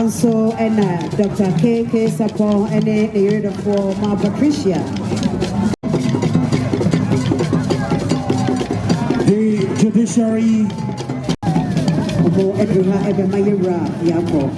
nso na Dr. KK Sapong ne ne yerefoɔ Ma Patricia. The judiciary. Ɔmo aduru ha ɛbɛma yɛwura yɛakɔ.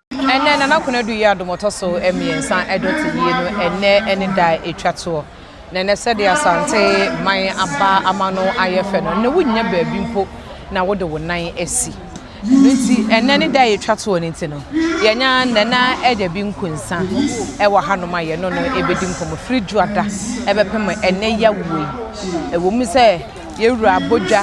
Ɛnnɛ, Nana Konadu yɛ adom ɔtɔ so mmiɛnsa dɔte yie no ɛnnɛ ne da a ɛtwa toɔ. Na ɛnnɛ sɛdeɛ Asante man aba ama no ayɛ fɛ no, ɛnnɛ wonnya baabi mpo na wode wo nan asi. Ɛno nti, ɛnnɛ ne da a ɛtwa toɔ no nti no, yɛanya Nana Agya bi nkonsa wɔ hanom a yɛne no ɛbɛdi nkɔmmɔ firi Dwoada ɛbɛpem ɛnnɛ yi awoɔ yi. Ɛwɔ mu sɛ. Yewura abodwa,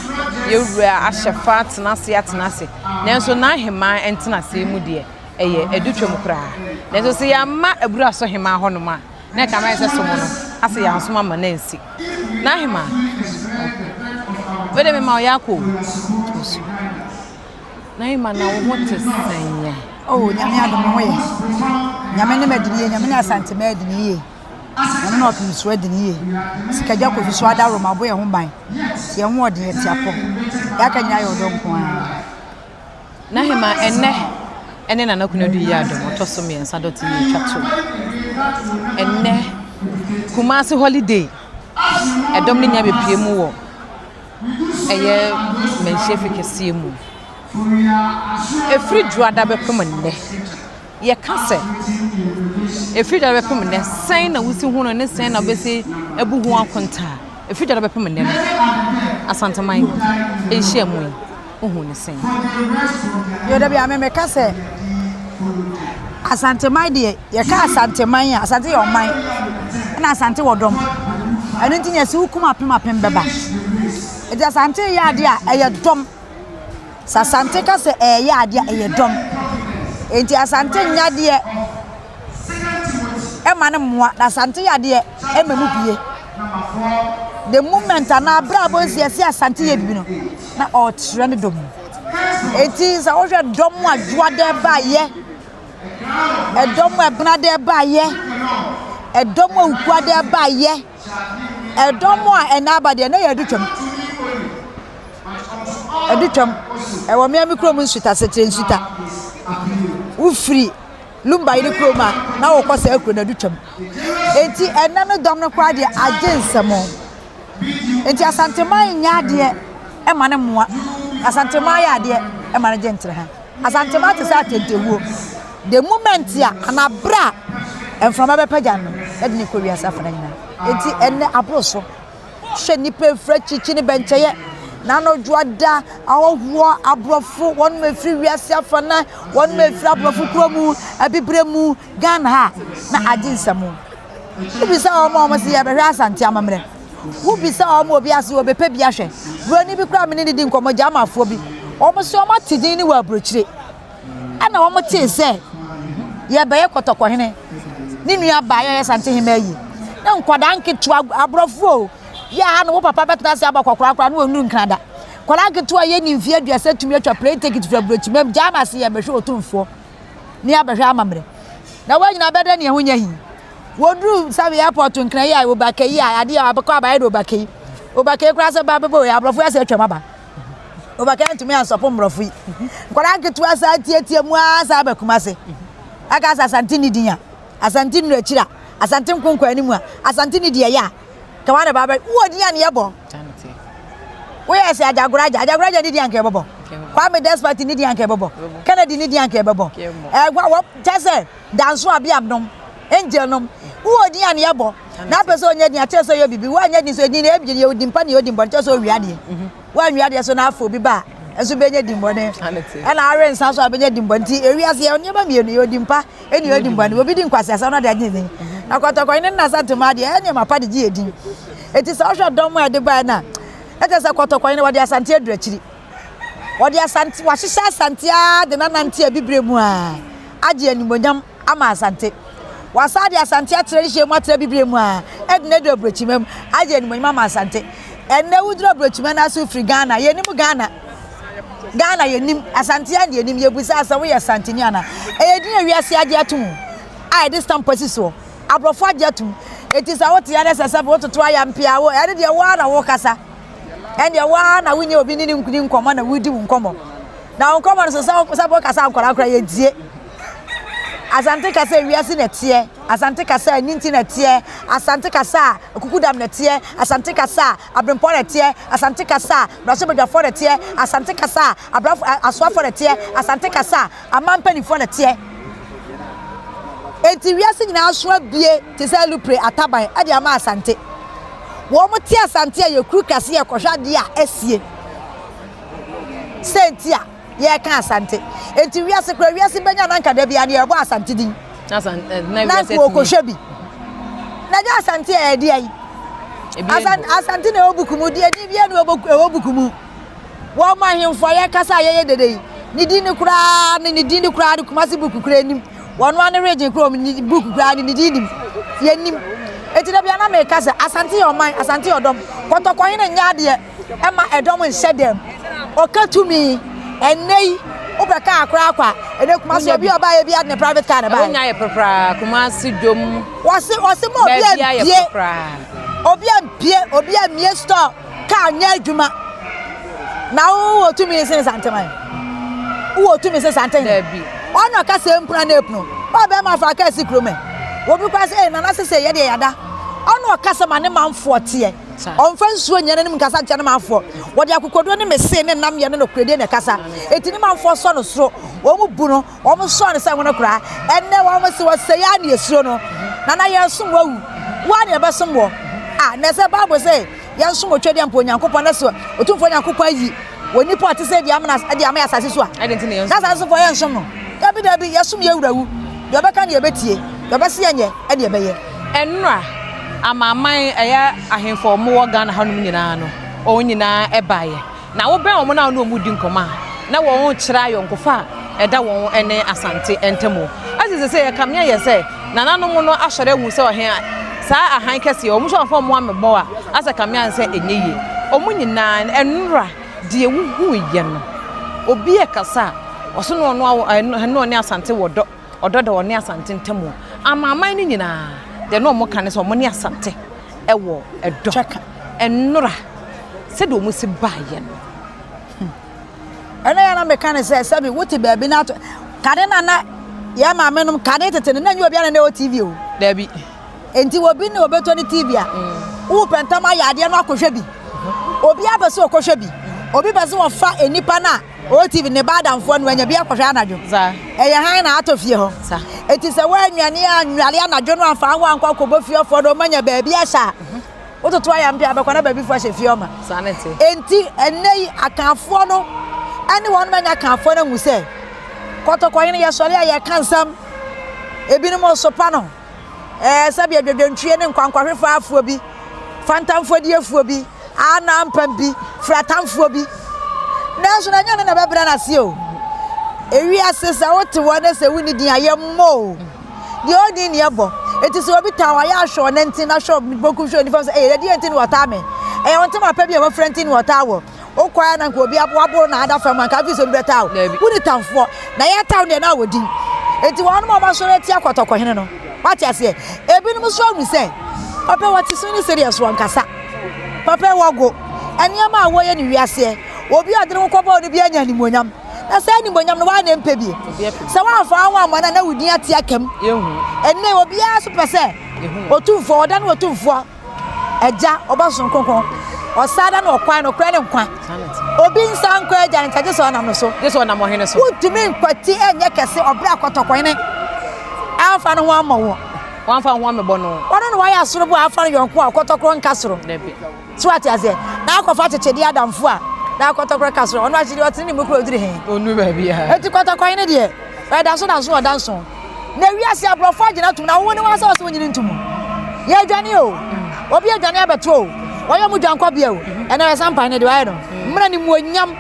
yewura ahyɛ fa atena ase atena ase, nanso n'aheman ntenasee mu deɛ, ɛyɛ adutwam koraa. Nanso sɛ yɛamma aduru aso hemaa hɔnom a, na ɛka mɛyɛ sɛ som no asɛ yɛansom amma no ansi. N'aheman, wei deɛ mema wo yɛ akɔ o. Naima na wo ho te sɛn? Oh, nyame adom ho yɛ. Nyame ne madini ye, nyame ne asante madini ye. Hɔn na ɔpem suro adze no yie, sikagya kɔ susu adaworo ma ɔbɔ hɛnho ban, ntsi hɛnho wɔ ɔdze yɛ tsiapɔ, dza aka nyina yɛ ɔdɔ nko ara. Na hɛn maa ndɛ ne Nana Konadu yɛ adɔ ma ɔtɔ so miɛnsa dɔ tse yie twa to. Ndɛ Kumasi holiday dɔm no nyina bepue mu wɔ ɛyɛ Manhyiafi kɛseɛ mu. Ɛfiri Dwoada bɛkɔm ndɛ, Yɛka sɛ, Ɛfiri da a ɛbɛpem nnɛ, sɛn na wosi hu no ne sɛn na wobɛsi abu ho akontaa? Ɛfiri da a ɛbɛpem nnɛ no, Asanteman nhyiamu yi, wohuu no sɛn? Yɛ da bi a, me meka sɛ, Asanteman deɛ, yɛka Asanteman a, Asante yɛ ɔman, ɛna Asante wɔ dɔm. Ɛno nti na yɛse wokum apem apem bɛba. Nti Asante yɛ adeɛ a, ɛyɛ dɔm. Sɛ Asante ka sɛ ɛɛyɛ adeɛ a, ɛyɛ dɔm. Enti Asante nyɛ adeɛ ɛma no mmoa, na Asante yɛ adeɛ ɛma mu bie. The moment anaa berɛ a bɔnsi ɛse Asante yɛ bibi no, na ɔɔkyerɛ ne dɔm. Enti sɛ wohwɛ dɔm a dwoa dɛ baayɛ, ɛdɔm a ɛbena dɛ baayɛ, ɛdɔm a ukua dɛ baayɛ, Ɛdɔm a ɛnɛ aba deɛ ɛnɛ yɛ adi twam. Adi twam. Ɛwɔ mmea mi kurom nsuta setere nsuta. Wofiri lumba yere kurom a na wɔkɔ saa kuro no adi twam. Eti ɛnɛ no dɔm no koraa deɛ agye nsɛm. Eti asanteman nyɛ adeɛ ɛma ne mmoa. Asanteman yɛ adeɛ ɛma ne gye ntere ha. Asante ma te sɛ atɛntɛwuo, the moment a anaa berɛ a mframa bɛpagya no na de no kɔ wiase afena nyinaa. Enti ɛnnɛ aboro so hwɛ nnipa efura kyikyi ne bɛnkyɛyɛ na anadwo ada ahɔhoɔ aborɔfo wɔn ma efiri wiase afana wɔn ma efiri aborɔfo kuro mu abibire mu Ghana ha na agye nsɛm. Wobisaa wɔn a wɔsi yɛbɛhwɛ Asante amammerɛ. Wobisaa wɔn a obi ase wɔ bepɛ bi ahwɛ. Buroni bi koraa me ne no di nkɔmmɔ, Gyamafoɔ bi. Wɔn se wɔate din no wɔ aburokyire. Ɛna wɔtee sɛ yɛbɛyɛ Kɔtɔkɔhene ne nua baa yɛ ɔyɛ Asante Hemmaa yie. Ne nkwadaa nketewa aborɔfo o. Yɛ ha no wo papa bɛtena ase abɔ kɔkora koraa na wɔnnu nkra da. Nkwadaa nketewa a yɛnni mfeɛ aduasa tumi atwa plane ticket firi aburokyimam, Gyama se yɛbɛhwɛ Otumfoɔ. ne abɛhwɛ amammerɛ. Na wɔn nyinaa bɛda nea ɛho nyɛ hi. Wɔduru sɛbe airport nkran yi a wɔbɛka yi a adeɛ a abɛkɔ abayɛ de wɔbɛka yi. Wɔbɛka yi koraa sɛ ba bɛbɔ yi aborɔfo asɛ atwam aba. Wɔbɛka yi ntumi ansɔpo mborɔfo yi. Nkwadaa nketewa saa tietie mu ara saa ba Kumase. Aka sɛ asante ne din a, asante nnuru akyiri a, asante nkonkɔ anim a, asante ne deɛ ɛyɛ a. Ka wana baba. Wo di an yebo. Wo ya se ajagura aja. Ajagura aja ni di an ke bobo. Kwame Despati ni di an ke bobo. Kennedy ni di an ke bobo. Eh gwa wo tese danso abiam nom. Angel nom. Wo di an yebo. Na pese onye di atere so yo bibi. Wo anya di so di ne ebi yo di mpa ni yo di mbon tese o wia di. Wo an wia di so na afo bi ba. Enso be nye di mbon. Ena awe nsa so a be nye di mbon ti. Ewia se yo ni eba mi yo di mpa. Ɛne ɔdi mbɔne, obi di nkwaseasɛm na ɔde agye ne din, na kɔtɔkɔnyi ne ne nasa ntom adeɛ, ɛyɛ nneɛma pa de gye yɛn din. Enti sɛ wohwɛ dɔm a ɛde baeɛ no a, na kyerɛ sɛ kɔtɔkɔnyi no wɔde asante aduru akyiri. Wɔde asante, wɔahyehyɛ asante ara de no anante abibire mu a, agye animuonyam ama asante. Wɔasan de asante atrɛ nhyiam mu atrɛ abibire mu a, ɛde no aduru aburokyima mu, agye animuonyam ama asante. Ɛnnɛ woduru aburokyima no ase wofiri Ghana, yɛnnim Ghana. Ghana yɛnim, Asante ara na yɛnim. Yɛbisaa sɛ, woyɛ Asanteni anaa? Ɛyɛ din a wiase agye atom a yɛde stamp asi soɔ. Aborɔfo agye atom. Enti sɛ wote ara sɛ sɛbe wototo ayam pea wo, ɛno deɛ wo ara na wokasa. Ɛnneɛ wo ara na wonyɛ obi ne no nni nkɔmmɔ na woredi wo nkɔmmɔ. Na wo nkɔmmɔ no so sɛ sɛbe wokasa a nkwadaa koraa yɛntie. Asante kasa a wiase na ɛteɛ. Asante kasa a ninti na ɛteɛ. Asante kasa a akukudam na ɛteɛ. Asante kasa a Abrempɔɔ dɛteɛ, Asante kasa a mmarahyɛbadwafoɔ dɛteɛ, Asante kasa a abrafo ɛ asoafoɔ dɛteɛ, Asante kasa a aman mpaninfoɔ dɛteɛ. Enti wiase nyinaa aso abue te sɛ alupre ataban de ama Asante. Wɔte Asante a yɛkuru kase yɛkɔhwɛ adeɛ a asie. Sɛ nti a. Yɛka Asante. Enti wiase kora wiase bɛnya na anka da biara no yɛbɔ Asante din. Na anka wɔkɔhwɛ bi. Na gya Asante a ɛde ayi. Asante na ɛwɔ buku mu deɛ din biara na ɛwɔ buku mu. Wɔn mu ahemfo a yɛkasa a yɛyɛ dede yi. Ne din no koraa ne ne din no koraa de Kumasi buku koraa nim. Wɔn ano regye koraa wɔn ne buku koraa ne ne din nim. Yɛnim. Eti da biara na meka sɛ Asante yɛ ɔman, Asante yɛ ɔdɔm. Kɔtɔkɔhene nyɛ adeɛ. ɛma ɛdɔm nhyɛ dɛm ɔka tumi ɛnɛ yi wopɛ kaa koraa kwa ɛnɛ kuma sɛ obi a ɔbaeɛ bi ade ne private car na baeɛ wonya yɛ pɛpraa kuma se dwom wɔse wɔse ma obi ampie obi ampie obi ammie store kaa nyɛ adwuma na wowɔ tumi sene santeman wowɔ tumi sene santen ɔne ɔka sɛ mpuna na ɛpunu ɔbɛma fa kaa si kuromɛ wɔbi kwa sɛ nana sɛ sɛ yɛdeɛ yɛada ɔne ɔka sɛ ma ne manfoɔ teɛ ta. Ɔmfa nsuo nyɛ n'anim nkasa ntia ne manfoɔ. Wɔde akokoɔduro ne mmese ne nnamyɛ ne nokorɛdie na ɛkasa. Enti ne manfoɔ sɔ no soro. Wɔbu no, wɔsɔɔ no sɛ nwono koraa. Ɛnnɛ wɔse wɔsɛe ara na yɛsuro no. Nana yɛresom wo awu. Wo ara na yɛbɛsom wo. Ah, na ɛsɛ Bible se yɛnsom Otwadeɛ mpo, Onyankopɔn. Na se Otumfoɔ Nyankopɔn ayi onipa a ɔte sɛ Dua Amena adi ama yɛn asase so a, na asase sofoɔ yɛnsom no? Dabi, dabi, yɛsom yɛn Wura wu. Deɛ ɔbɛka na yɛbɛtie. Deɛ ɔbɛse yɛnyɛ na yɛbɛyɛ. Ɛnora amanaman ɛyɛ ahenfo a wɔwɔ Ghana ha nom nyinaa no, wɔn nyinaa ɛbaeɛ. Na wobɛn wɔn na wo ne wɔn di nkɔmmɔ a, na wɔrekyerɛ ayɔnkofa a ɛda wɔn ne Asante ntam. Ɛsɛ sɛ sɛ yɛkame ayɛ sɛ nananom no asɔre ahu sɛ ɔhen a saa ahan kɛseɛ, wɔn nso amfa wɔn ammɛbɔ a, asɛ kame ayɛ sɛ ɛnyɛ yie. Wɔn nyinaa no, ɛnora deɛ wohuiɛ no, obi ɛkasa a, ɔse na ɔne Asante wɔ dɔ. ɔdɔ da ɔne Asante ntam o. Amanaman no nyinaa, deɛ na wɔka ne sɛ wɔne Asante wɔ ɛdɔ. Twaka. Nnora, sɛdeɛ wɔsi baeɛ no. Hmm. Ɛnna yɛ na meka ne sɛ, sɛbi wote baabi na ato kane na na yɛn maame nom kane tete no na nyɛ obiara na ɛwɔ TV o. Daabi. Enti obi ne obɛtɔ ne TV a, mm. wopɛ ntam ayɛ adeɛ no akɔhwɛ bi. Mm-hmm. Obi abɛ sɛ ɔkɔhwɛ bi. Mm-hmm. Obi bɛ sɛ wɔfa nnipa no a OTV ne Badamfoɔ no anya bi akɔhwɛ anadwo. Ɛyɛ hann na atɔ fie hɔ. Enti sɛ woannwane annwale anadwo no amfa wo ho ankɔ akɔbɔ fie ɔfoɔ na ɔmanya baabi ahyɛ a, wototo ayɛ mpea bɛkɔ na baabifoɔ ahyɛ fie ɔma. Enti ɛnnɛ yi Akanfoɔ no ne wɔnom anya Akanfoɔ no ahu sɛ kɔtɔkɔhene yɛsɔre a yɛka nsɛm. Ebinom resopa no. sɛdeɛ dwadwantwie ne nkwankwahefafoɔ bi, fantanfɔdiefoɔ bi, anampam bi, fratanfoɔ bi. Nanso na ɛnyɛ ne na ɛbɛbrɛ no ase o. Ewiase sɛ wote wɔn ne sɛ wonni din a yɛ mmɔ o. Deɛ ɔdin ne ɛbɔ. Eti sɛ obi tan ɔyɛ ahwɛ ɔnantin ahwɛ ɔboku hwɛ onipa sɛ ɛyɛ ɛdeɛ nti ne wɔtaa me. Ɛyɛ wɔn ntoma pa bi a wɔafura nti ne wɔtaa wɔ. wo kɔɛ na nka obi aboaboro na ada fam anka afei sɛ obi bɛtaa wo wo ne tamfoɔ na yɛ taw deɛ na wɔdin enti wɔn a wɔasɔre atia kɔtɔkɔhene no wate aseɛ ebinom so ahunu sɛ papa wɔte so ne serious wɔn kasa papa wɔgo nneɛma a wɔyɛ ne wiaseɛ obi a ɔde ne ho kɔbɔɔ no bi anya animuonyam na saa animuonyam no wɔayɛ ne mpɛ bie sɛ wɔamfa wɔn ammɔ no na wodin ate akam ɛnnɛ obiara so pɛ sɛ otumfoɔ wɔda no otumfoɔ Agya, Ɔba, Sunsum Kronkron. Ɔsan da ne ɔkwan, nokorɛ ne nkwa. Obi nsa nkɔ Agya ne nkyɛn gye sɛ ɔnam no so. Gye sɛ ɔnam Ɔhene so. Wontumi nkwati nyɛ kɛse ɔbrɛ a kɔtɔkɔhene amfa ne ho ammɔ wo. Wamfa ne ho ammɛbɔ no. Ɔno na wayɛ asoro bo a afa no yɔnko a ɔkɔtɔkorɔ nka soro. Dabi. So wate aseɛ? Na akɔfa kyekyedeɛ adamfo a na akɔtɔkorɔ ka soro. Ɔno akyi deɛ ɔtene ne mu kura oduru he? Onnu baabiara. Enti kɔtɔkɔhene deɛ, ɛda so da nso ɔda nso. na wiase aborɔfo agyina atom na wowo ne wɔn sɛ wɔsɛ wonyini nto mu yɛadwane o obi adwane abɛto o wɔyɛ mu dwankɔbea o ɛnɛ yɛsan mpae ne deɛ wɔayɛ no mmerɛ ne muonyam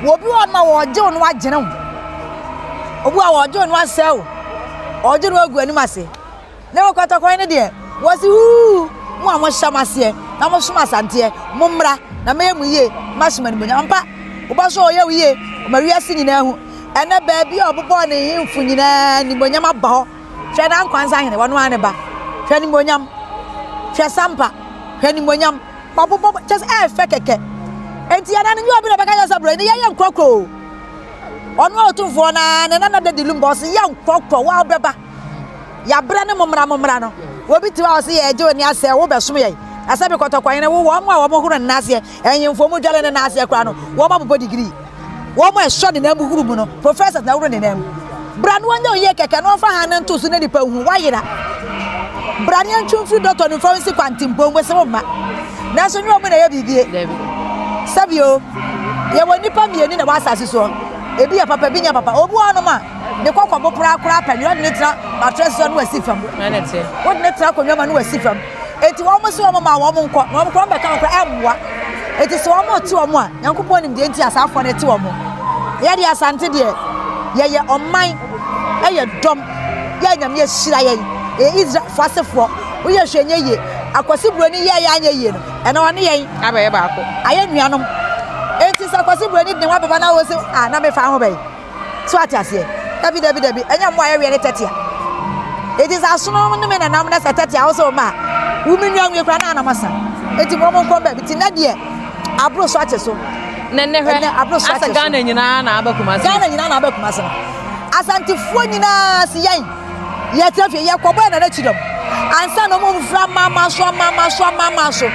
wɔbi wɔ noma wɔgye wo no agyene wo obi wɔ wɔgye wo no asɛe wo wɔgye no agu anim ase Na wɔ kwatakwan no deɛ, wɔse, Uu! Mo a moahyɛ mo aseɛ, na mosom asanteɛ, mommra, na mɛyɛ mo yie, na mahyɛ mo animuonyam. Ampa, wo Ba so ɔyɛ wo yie, ɔma wiase nyina ara hu. Ɛnnɛ, baabi a ɔbobɔɔ ne nhemfo nyina ara animuonyam aba hɔ. Hwɛ, n'ankwansa Hene, ɔno ara ne Ba. Hwɛ animuonyam! Hwɛ sampa! Hwɛ animuonyam! Ɔbobɔ, kyerɛ sɛ, ɛyɛ fɛ kɛkɛ. Enti ɛnnɛ no, nyɛ obi na ɔbɛka kyerɛ sɛ bra, ɛnnɛ yɛnyɛ nkorɔkorɔ o. Ɔno a Otumfoɔ no ara ne Nana Daddy Lumba ɔse yɛ nkorɔkorɔ, wo ara wobɛba. Yɛabrɛ no mommra mommra no, obi te hɔ a ɔse yɛ agye oni asɛ wo bɛsom yɛn. Ɛsɛ me kɔtɔkɔhene wo wɔn a wɔn horo nna aseɛ, ɛhemfoɔ mu dwale no nna aseɛ koraa no, wɔn abobɔ degree, wɔn a ɛsɔ ne nan mu huru mu no, professors na horo ne nan mu. Bra na wɔnyɛ wo yie kɛkɛ na wɔmfa hann no nto so na nipa nhu, wɔayera. Bra na yɛntwe mfiri dɔtɔ no mfa wo nsi kwantempɔn mu, ɛsɛ wo mma. Nanso nyɛ wɔn na ɛyɛ biribie. Sɛbio, yɛwɔ nnipa mmienu na ɛwɔ asase soɔ, ebi yɛ papa, ebi nyɛ papa. Obi wɔ hɔnom a, De kɔ kɔbo korakora pɛ nea ɔde ne tena matress so na wasi fam. Wode ne tena akonnwa mu na wasi fam. Enti wɔn se wɔn ma wɔn nkɔ na wɔn kora wɔn bɛka wɔn kora ɛmmoa. Enti sɛ wɔn te wɔn a Nyankopɔn nim deɛ nti asaafoɔ no te wɔn. Yɛ deɛ asante deɛ yɛyɛ ɔman ɛyɛ dɔm yɛ nyame ahyira yɛn ɛyɛ Israelfoɔ asefoɔ woyɛ hwɛ nyɛ yie akwasi buroni yɛ yɛ anyɛ yie no ɛna ɔne yɛn abɛyɛ baako ayɛ nuanom enti sɛ akwasi buroni de wɔn abɛba na wɔn se ah na mefa ho bɛyɛ So wate aseɛ? Dabi, dabi, dabi. Ɛnyɛ mmoa a yɛweɛ ne tɛtea. Eti sɛ asono no me nanam na sɛ tɛtea wo sɛ ɔma a, wo me nua nwie koraa na anam asa. Eti mo mo nkɔ baabi. Ti nɛ deɛ aboro so ate so. Nɛ nɛ hwɛ. Ɛnɛ aboro so ate so. Asa Ghana nyinaa na aba Kumasi. Ghana nyinaa na aba Kumasi no. Asantefoɔ nyinaa si yɛn. Yɛtena fie, yɛkɔbɔ yɛn nana kyerɛm ansa na wɔn mfra amama so amama so amama so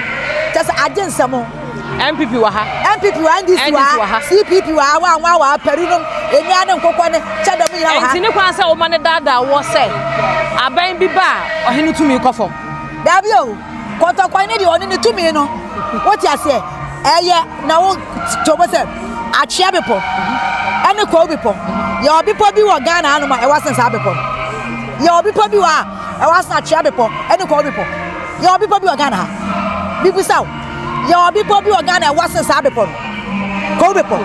kyɛ sɛ agye nsɛm. MPP wɔ ha. MPP wɔ NDC wɔ ha. CPP wɔ ha wɔ anwa wɔ ha pɛri nom enua ne nkokɔ ne kyɛ dɛm nyina wɔ ha. Ɛnti ne kwan sɛ wɔn ne daadaa wɔ sɛ abɛn bi ba a ɔhene tumi kɔ fam. Daabi o. Kɔtɔkwan no deɛ ɔne ne tumi no wote aseɛ ɛyɛ na wo to bɛ sɛ atwea bepɔ ɛne kwawu bepɔ yɛwɔ bepɔ bi wɔ Ghana hanom a ɛwɔ asen saa bepɔ no yɛwɔ bepɔ bi wɔ a ɛwɔ asen atwea bepɔ ɛne kwawu bepɔ yɛwɔ bepɔ bi wɔ Ghana ha bibisa wo yɛwɔ bepɔ bi wɔ Ghana ɛwɔ asen saa bepɔ no. kɔ wo bepɔ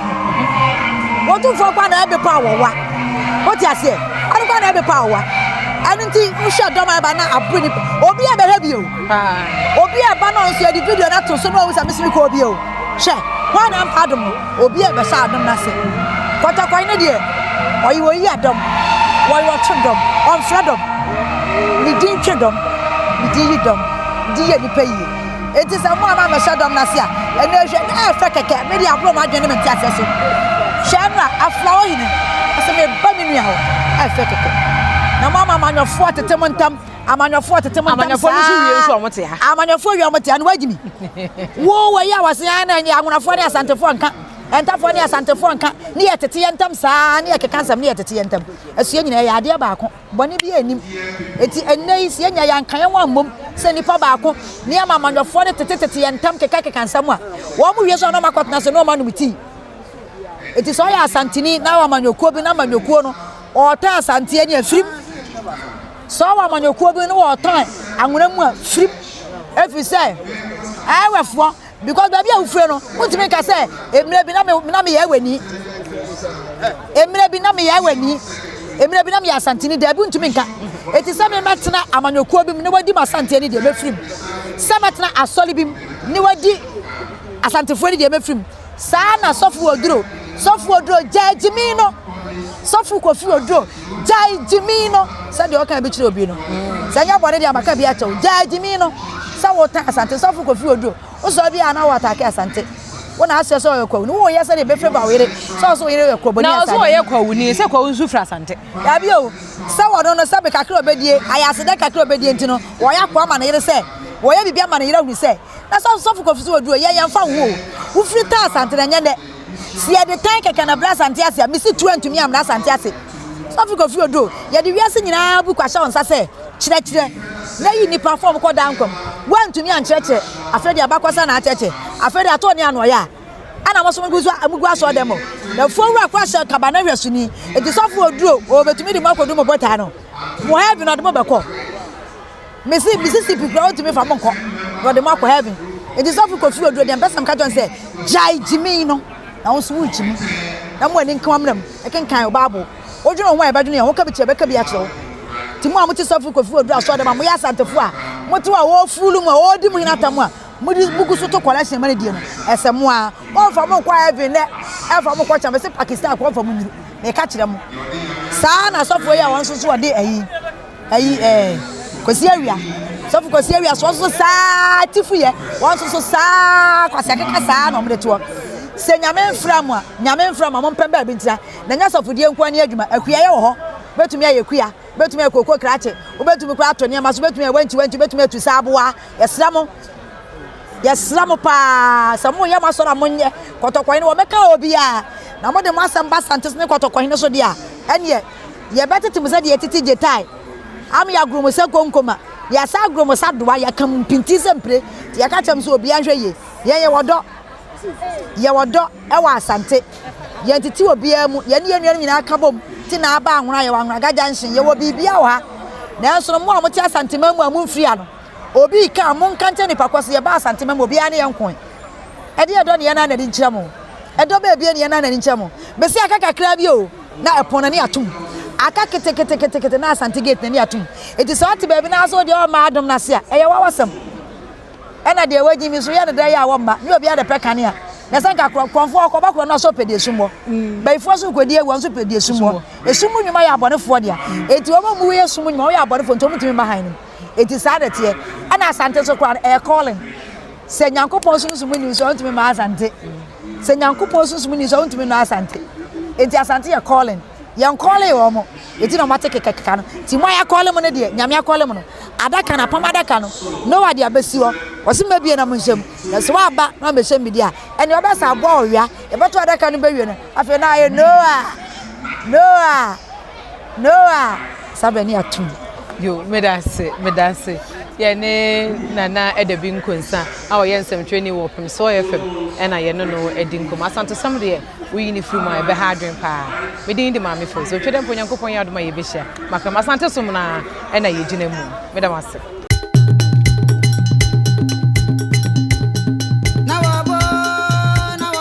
wɔn tumfoɔ nkwa na ɛbepɔ a wɔwa wote aseɛ ɔno nkwa na ɛbepɔ a wɔwa ɛno nti wohwɛ dɔm a ɛba na aboro nipa obi a ɛbɛhwɛ bio obi a ɛba na ɔno nso yɛde video no ato so na ɔwusa mesimi kɔ obi o hwɛ wɔn na mpa adom obi a ɛbɛsɔ adom no ase kɔtɔkwan no deɛ ɔyɛ wɔ yi adɔm wɔyɛ ɔto dɔm ɔmfrɛ dɔm ne din twe dɔm ne din yi dɔm ne din yɛ nipa yie Enti sɛ mo a ma mehyɛ dɔm no ase a, ɛnnɛ hwɛ, na ɛfɛ kɛkɛ, me deɛ aboro mo adwene ne me nteaseɛ so. Hwɛ ɛnnora, afra ɔhene, ɔse meba me nua hɔ, ɛfɛ kɛkɛ. Na mo ama amanyɔfoɔ atete mo ntam, amanyɔfoɔ atete mo ntam saa ara, amanyɔfoɔ wie wɔn te ha, na wɔagye me. Wo wɔ yi a wɔse aa na ɛnyɛ Anwonafoɔ ne Asantefoɔ nka, Ntafoɔ ne Asantefoɔ nka, ne yɛtete yɛn ntam saa ara, ne yɛkeka nsɛm ne yɛtete yɛn ntam. Ɛso yɛn nyinaa yɛyɛ adeɛ baako. Bɔne biara nnim. Enti ɛnnɛ yi, sɛ yɛanya yɛn anka yɛn ho ammom sɛ nnipa baako, na yɛma amanyɔfoɔ no tetetete yɛn ntam kekakeka nsɛm a, wɔn wie so a na wɔakɔtena ase na wɔanom tii. Enti sɛ ɔyɛ Asanteni na ɔwɔ amanyɔkuo bi na amanyɔkuo no wɔretɔn Asanteɛ ne a, firim. Sɛ ɔwɔ amanyɔkuo bi na wɔretɔn Anwena mu a, firim. Ɛfiri sɛ, Ɛwɛfoɔ because baabi a wofiri no wotumi ka sɛ mmerɛ bi na me na meyɛ awani mmerɛ bi na meyɛ awani mmerɛ bi na meyɛ asanteni daabi wontumi nka ɛti sɛ memɛtena amanyɔkuo bi mu ne wadi ma asanteɛ ne deɛ mɛfiri mu sɛ mɛtena asɔre bi mu ne wadi asantefoɔ ne deɛ mɛfiri mu saa na sɔfo oduro sɔfo oduro gyagyimi no sɔfo kofi oduro Gyae gyimi no, sɛdeɛ ɔkaa bi kyerɛ obi no. Sɛ nyɛ bɔne deɛ maka bi akyɛ wo. Gyae gyimi no. Sɛ wotan Asante sɔfo Kofi Oduro, wo sɔre bi a na wo atake Asante. Wo na aseɛ sɛ ɔyɛ kwawuni. Wo yɛ sɛdeɛ bɛ favor wo yere. Sɛ ɔso wo yere yɛ kwaboni Asante. Na ɔso ɔyɛ kwawuni. Sɛ kwawuni nso firi Asante. Dabi o. Sɛ wɔno no sɛbe kakra obedie, ayasede kakra obedie nti no, wɔyɛ akoa ma ne yere sɛ wɔyɛ biribi ama ne yere ahunu sɛ Na sɛ sɔfo kofi so odu o yɛ yɛn fa wo ho o wo firi taa asante na ɛnyɛ nɛ si yɛ de tan kɛkɛ na bra asante ase a mesi tu antumi amra asante ase sɔfo kofi odu o yɛ de wiase nyinaa buku ahyɛ wo nsa sɛ kyerɛ kyerɛ na yi nipa fɔm kɔ daa nkwam wo antumi ankyerɛ kyerɛ afei de aba kɔsa na akyerɛ kyerɛ afei de atɔ ne ano ɔyɛ a ɛna mo so mo gusu mo gu asɔ dɛm o na fuo wura kɔ ahyɛ kaba na hwɛ suni eti sɔfo odu o obetumi de mo akodu mo botaa no mo heaven ɔde mo bɛkɔ. Me se Mississippi koraa otumi fa mo nkɔ na ɔde mo akɔ heaven. Enti sɔfo Kofi Oduro deɛ mpɛsɛ meka kyerɛ no sɛ gyae gyimii no na wo nso wogyimi na mo ani nka w'amena mu kenkan wo Bible. Wodwene wo ho a yɛbɛdwene yɛn ho ka bi kyerɛ yɛbɛka bi akyerɛ wo. Nti mo a mote sɔfo Kofi Oduro asɔɔdɛm a moyɛ Asantefo a mote hɔ a wɔrefuulu mo a wɔredi mo hene atam a mode mugu so to collection ma no die no ɛsɛ mo ara wɔmfa mo nkɔ heaven nɛ ɛmfa mo nkɔ kyɛ mese Pakistan kɔ wɔmfa mo nnuru meka kyerɛ mo saa na sɔfo yi a wɔn nso so wɔde ayi Ɛyi ɛɛ Kwasi Awia sɔfo Kwasi Awia so ɔsoso saa tifu yɛ wɔn soso saa kwasi akeka saa na wɔn de toɔ sɛ nyame nfra mu a nyame nfra mu a wɔn mpɛn baabi ntina na nyɛ sɔfodie nkoa ne adwuma akua yɛ wɔ hɔ betumi ayɛ kua betumi ayɛ koko krakye wobetumi kora ato nneɛma so betumi ayɛ wanti wanti betumi atu saa aboa yɛsra mo yɛsra mo paa sɛ mo yɛ mo asɔre a mo nyɛ kɔtɔkɔhene wɔn mɛka obiara na mo de mo asɛm ba santes ne kɔtɔkɔhene so deɛ ɛneɛ Yɛbɛtsetse mu sɛdeɛ yɛtsetse gyetae, ama yɛagoro mo sɛ konkoma, yɛasa agoro mo sɛ adowa, yɛaka mo mpintsi sɛ mpire, nti yɛka kyerɛ mo sɛ, Obiara nhwɛ yie. Yɛn yɛwɔ dɔ, yɛwɔ dɔ wɔ Asante. Yɛntsetse obiara mu, yɛne yɛn nuanom nyinaa ka bom tse n'aba anwona, yɛwɔ Anwonaga junction, yɛwɔ biribiara wɔ ha. Nanso no, mo a motse Asanteman mu a momfiri ha no, obi reka a, monka nkyerɛ nipa korɔ sɛ, Yɛbaa Asanteman mu, obiara ne yɛn nkoe. Ɛdeɛn dɔ ne yɛn nan ani nkyerɛ mo? Ɛdɔ bɛɛ bie ne yɛn nan ani nkyerɛ mo? Meseɛ aka kakraa bi o. na ɛpono no ani atom aka keteketekete na Asante gate no ani atom enti sɛ ɔte baabi na so deɛ ɔmma adom no ase a ɛyɛ wawa sɛm ɛna deɛ wagyi mi nso yɛ ne dɛ yɛ a wɔmma ne obi adɛ pɛ kane a na sɛ nka korɔmfoɔ ɔkɔba korɔ no ɔsɛ ɔpɛ deɛ sum wɔ mm. bayifoɔ nso kɔdi awua nso pɛ deɛ sum wɔ ɛsum mu nnwuma yɛ abɔnefoɔ deɛ enti wɔn a wɔyɛ sum mu nnwuma wɔyɛ abɔnefoɔ nti wɔn tumi ma han no enti saa na ɛteɛ ɛna asante so koraa ɛyɛ calling sɛ nyankopɔn so no so mu nim sɛ wɔn tumi ma asante Sɛ Nyankopɔn sunsum nni so a wontumi nnɔ Asante. Enti Asante yɛ calling. Yɛn calling wɔn. Enti na wɔn ate kekakeka no. Ti mo a yɛ calling mo no deɛ, Nyame a calling mo no. Adaka no, apam adaka no, Noah de abɛsi hɔ. Wɔse mɛ bie na mo nhyɛ mu. Na sɛ wɔaba na wɔn bɛhyɛ mu bi deɛ a, ɛneɛ wɔbɛ sa aboa ɔwea. Yɛbɛto adaka no bɛwie no, afei na ayɛ Noah, Noah, Noah saa bɛ ne atum. Yo, medase, medase. Yɛne Nana Adabi Nkonsa a ɔyɛ nsɛmtwerɛni wɔ Pemsoɔ FM na yɛne no adi nkɔmmɔ. Asantesɛm deɛ, woyi no firi mu a, ɛbɛha adwene pa ara. Me din de Maame Fo. Sɛ ɔtwa dɛ mpo Nyankopɔn yɛ adom a yɛbɛhyia. Makram Asante som no ara na yɛgyina mu. Meda mo ase.